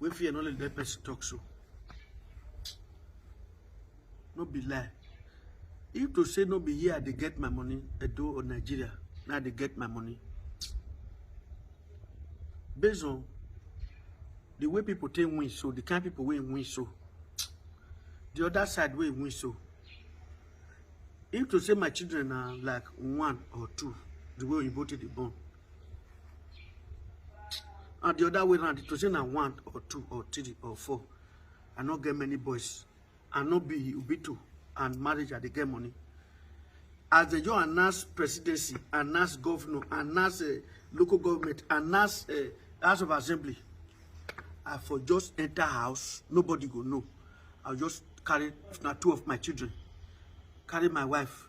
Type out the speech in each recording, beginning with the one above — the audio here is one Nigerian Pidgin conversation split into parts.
wey fear no let let person talk so no be lie if to say no be here i dey get my money edo or nigeria na i dey get my money based on the way people take win so the kind people wey win so the other side wey win so if to say my children na like one or two the way oyibo take dey born and the other way around to say na one or two or three or four i no get many boys i no be ubito and marriage i dey get money as they just announce presidency announce governor announce uh, local government announce uh, house of assembly i for just enter house nobody go know i just carry na two of my children carry my wife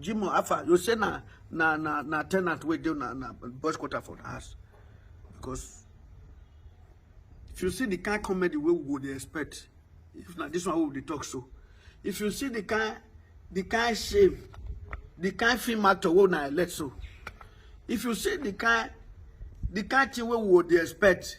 Jimo Afa, you say na na na na tenant wey dey na na boys quarter for the house because if you see the kind comedy wey we go dey expect if na this one wey we dey talk so if you see the kind the kind shame the kind film actor wey una elect so if you see the kind the kind thing wey we go dey expect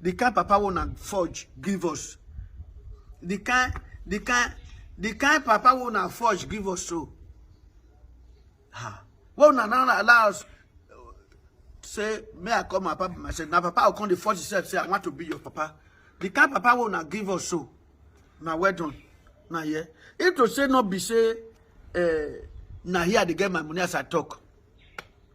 the kind papa wey una forge give us the kind the kind the kind papa wey una forge give us so ah wey una no allow us say may i call my papa myself na papa go come dey force himself say i want to be your papa the kind papa wey una give us so na well done na here if to say no be say uh, na here i dey get my money as i talk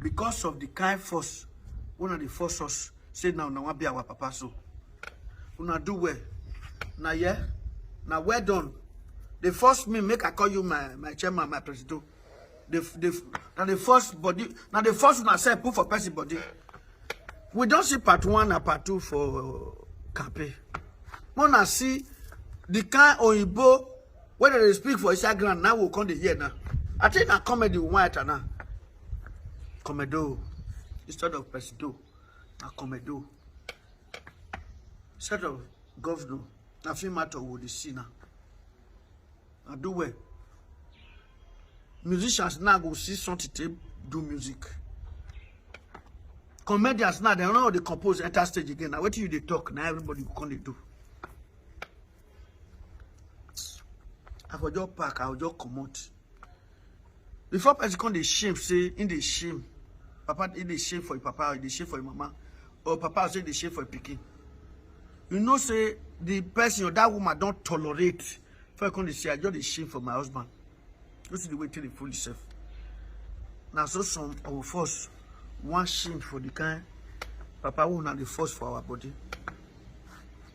because of the kind force una dey force us say na una wan be our papa so una do well na yeah na well done dey force me make i call you my my chairman my presido dey dey na dey force body na dey force una sef put for person body we don see part one and part two for campaign una see the kind oyinbo When they speak for inside ground, now we'll come the year now. I think I comedy white now. Comedo instead of presido, na comedo. Instead of governor, na film matter we dey see now. I do well. Musicians now go see something to do music. Comedians now, they don't know how they compose enter stage again. Now, what you they talk, now everybody go come they do. i go just pack i go just comot before person come dey shame say him dey shame papa him dey shame for him papa or he dey shame for him mama or papa say he dey shame for him pikin you know say the person or that woman don tolerate before you come dey say i just dey shame for my husband you see the way take dey fool yourself na so some of us wan shame for the kind papa wey una dey force for our body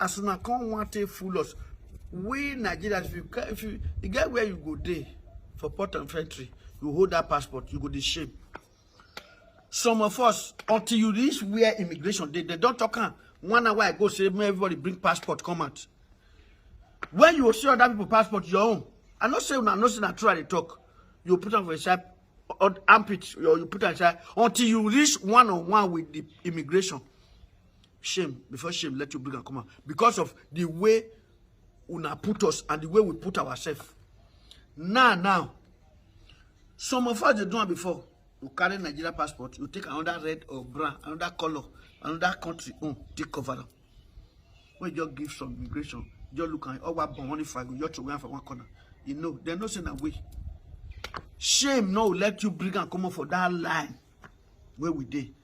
as una come wan take fool us we nigerians if you ca- if you e get where you go dey for port of entry you hold that passport you go dey shame some of us until you reach where immigration dey they don talk am one hour ago say make everybody bring passport come out when you see other people passport your own i no say una no say na true i dey talk you put am for inside or armpit or you put am inside until you reach one on one with the immigration shame before shame let you bring am come out because of the way una put us and the way we put ourselves now now some of us dey do am before you carry nigeria passport you take another red or brown another color another country own oh, take cover am wey just give some immigration just look am ọwa bọ̀ wọ́n ní fago yọ throway am for one corner you know dem no say na way shame no let you bring am comot for that line wey we dey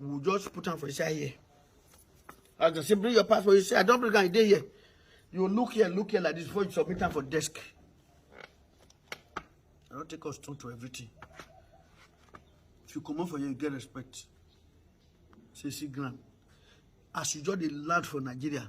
we will just put am for inside here as dem say bring your passport you say i don bring am e dey here you look here look here like this before you submit am for desk i don take us turn to everything if you comot for here you get respect say see ground as you just dey land for nigeria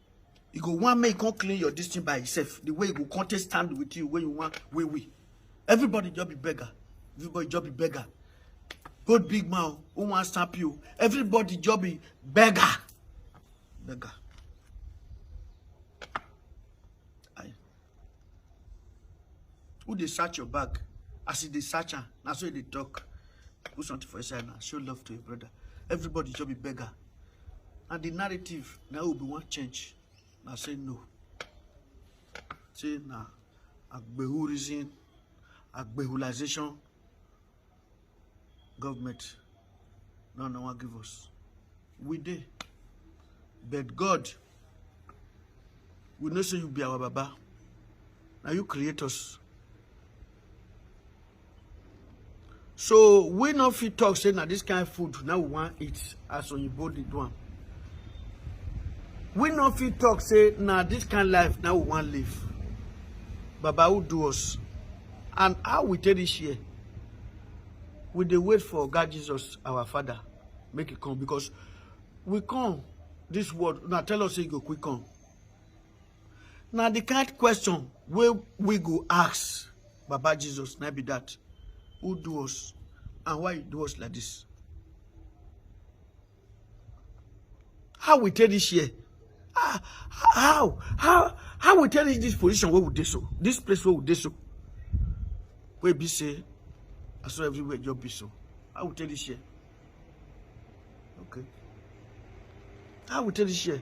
e go wan make e come clean your dis thing by himself the way e go come take stand with you wey you wan wey we everybody just be beggar everybody just be beggar both big man o who wan stamp you everybody just be beggar beggar. Who dey search your bag? As you dey search am, na so you dey talk. Put something for inside now. Show love to your brother. Everybody just be beggar. And the narrative now will be one change. Now say no. Say now, nah, agbehurism, agbehulization, government now no one give us we dey but god we know say you be our baba Now you create us so we no fit talk say na this kind of food now we wan eat as oyibo dey do am we no fit talk say na this kind of life now we wan live baba who do us and how we take this year we dey wait for God Jesus our father make e come because we come this world Now tell us say e go quick come Now the kind question wey we go ask baba jesus na be that who do us and why you do us like this How we take this year? Ah, how? How? How we take reach this position where we dey so? This place where we dey so? Where be say, I saw everywhere just be so. How we take this year? Okay. How we take this year?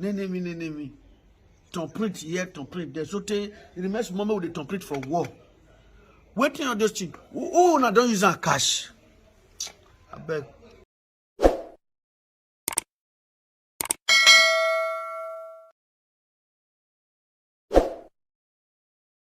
nenemi nenemi ton print here ton print there so tey e remain small make we dey ton print for wall wetin all those things who who una don use am cash abeg